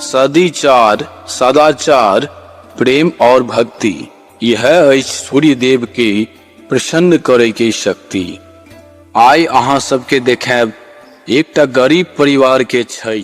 सदिचार सदाचार प्रेम और भक्ति यह अछि सूर्य देव के प्रसन्न करे के शक्ति आइ अहाँ सबके देखायब एकटा गरीब परिवार के छठि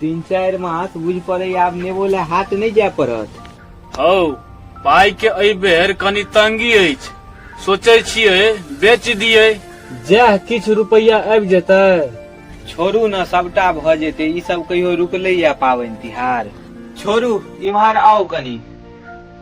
तीन चारि मास बुझि पड़ैए आब नेबो लए हाट नहि जाय पड़त हौ पाइ के एहि बेर कनी तंगी अछि सोचै छियै बेच दियै जएह किछु रुपैआ आबि जेतै छोड़ू ने सभटा भऽ जेतै ई सब कहियो रुकलैए पाबनि तिहार छोड़ू इम्हर आउ कनी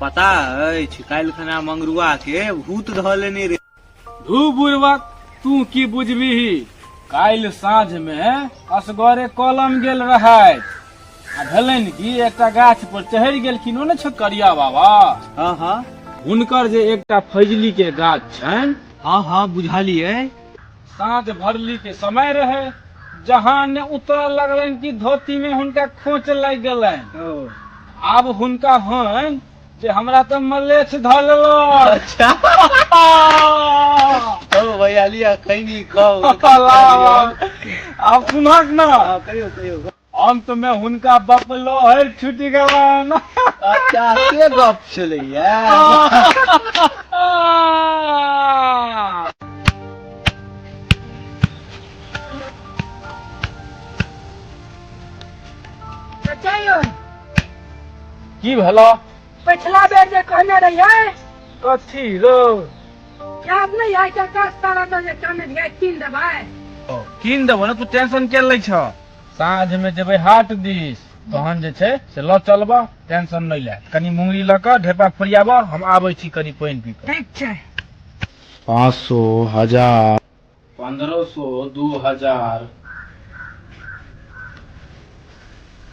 पता अछि काल्हि खना मंगरुआ के भूत धऽ लेने रे धू बुढ़वा तू की बुझबिही काल्हि साँझ मे असगरे कलम गेल रहथि आ भेलनि कि एकटा गाछ पर चढ़ि गेलखिन ओ ने छै करिया बाबा हँ हँ हुनकर जे एकटा फैजली के गाछ छनि हँ हँ बुझलियै साँझ भरली के समय रहे जहाँ ने उतरऽ लगलन कि धोती में हुनका खोच लग गेलन ओ आब हुनका हन जे हमरा तऽ मलेछ धऽ लेलक अच्छा ओ भैया लिया खैनी खाओ आब सुनहक ने कहियो कहियो अंत में हुनका बप लहर छुटि गेलन अच्छा से गप छलैया अच्छा यौ की भेलो पछिला बेर जे कहने रहियै कथी रो याद नहि है कि दस तारा तऽ जे कहने रहियै कीन देबै कीन देबो ने तू टेंशन के लै छ साँझ में जेबे हाट दिस तहन जे छै से ल चलब टेंशन नहीं ले कनी मुंगरी ल के ढेपा फरियाब हम आबे छी कनी पानी पी के ठीक छै पाँच सौ हजार पंद्रह सौ दू हजार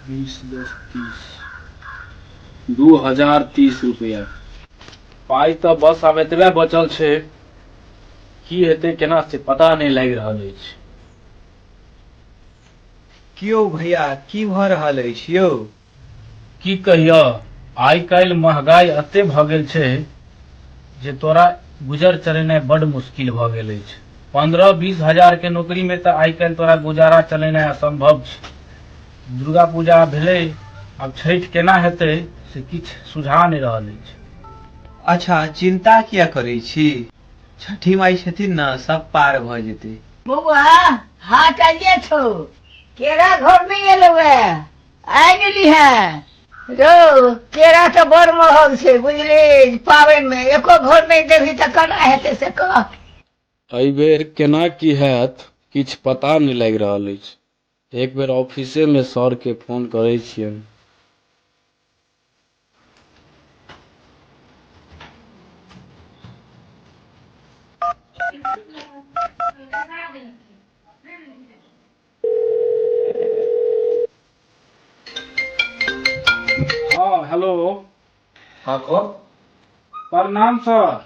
बीस दस तीस दू हजार तीस रुपया पाई तऽ बस आब एतबे बचल छै की हेतै केना से पता नहि लागि रहल अछि की यौ भैया की भऽ रहल अछि यौ। की कहिअ, आइ काल्हि महगाइ अत्ते भऽ गेल छै जे तोरा गुजर चलेनाइ बड्ड मुश्किल भऽ गेल अछि। पन्द्रह बीस हजार के नोकरी मे तँ आइ काल्हि तोरा गुजारा चलेनाइ असम्भव छै। दुर्गा पूजा भेलै आब छठि केना हेतै से किछु सुझा नहि रहल अछि। अच्छा चिन्ता किए करै छी। छठी माई छथिन न सब पार भ जेतै बौआ हाट आइए छौ केरा घर में एलौ है आइ गेली है रौ केरा तऽ बड़ महग छै बुझली पाबनि में एको घर नहि देबही तऽ केना हेतै से कह एहि बेर केना की हैत किछु पता नहि लागि रहल अछि एक बेर ऑफिसे में सर के फोन करैत छियनि। हँ हेलो हँ कौन प्रणाम सर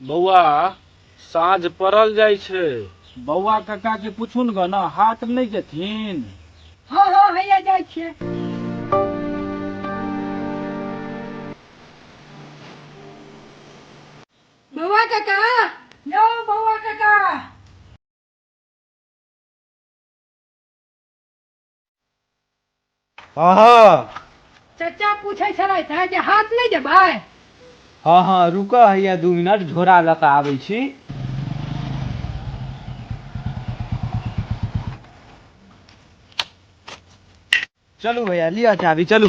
बौआ साँझ पड़ल जाइ छै बौआ कका के पूछुन ग ना हाट नहि जेथिन हँ हँ हैया जाइ छियै बौआ काका यौ बौआ काका हँ हँ चचा पूछै छलथि हैं जे हाथ नहि देबै हँ हँ रुकऽ हैया दू मिनट झोरा लऽ कऽ आबै छी चलू भैया लिअ चाभी चलू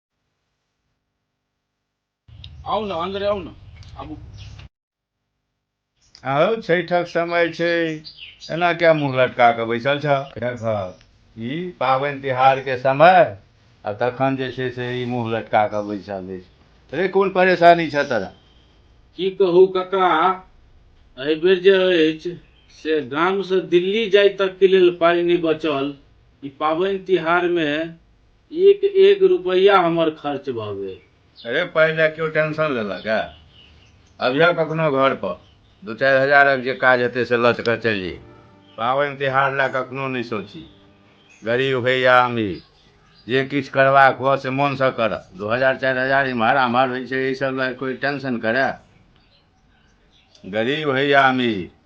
आउ ने अन्दर आउ ने आबू आउ छठक समय छै एना क्या मुँह लटका कऽ बैसल छ ई पाबनि तिहारके समय आ तखन जे छै से ई मुँह लटका कऽ बैसल अछि रे कोन परेशानी छ तोरा की कहू कका एहि बेर जे अछि से गामसँ दिल्ली जाय तकके लेल पाइ नहि बचल ई पाबनि तिहारमे एक-एक रुपैया हमर खर्च भऽ गेल। रे पाइ लए केओ टेंशन लेलक ए? अबिहऽ कखनो घर पर। दू-चारि हजारक जे काज हेतै से लऽ कऽ चलि जइहऽ। पाबनि-तिहार लए कखनो नहि सोचही। गरीब होइ या अमीर, जे किछु करबाक हुअ से मोनसँ करह। दू हजार-चारि हजार इम्हर-आम्हर होइ छै एहि सभ लए कोइ टेंशन करए? गरीब होइ या अमीर।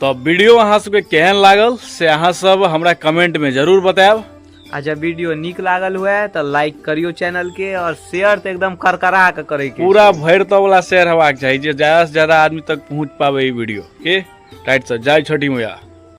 तो वीडियो अहाँ सबके केहन लागल से अहाँ सब हमरा कमेंट में जरूर बताएब आ जब वीडियो नीक लागल हुए तो लाइक करियो चैनल के और शेयर तो एकदम करकरा के करे के पूरा भरि तो वाला शेयर हेबाक चाही जे ज्यादा से ज्यादा आदमी तक पहुंच पावे ई वीडियो के टाइट से जय छठी मैया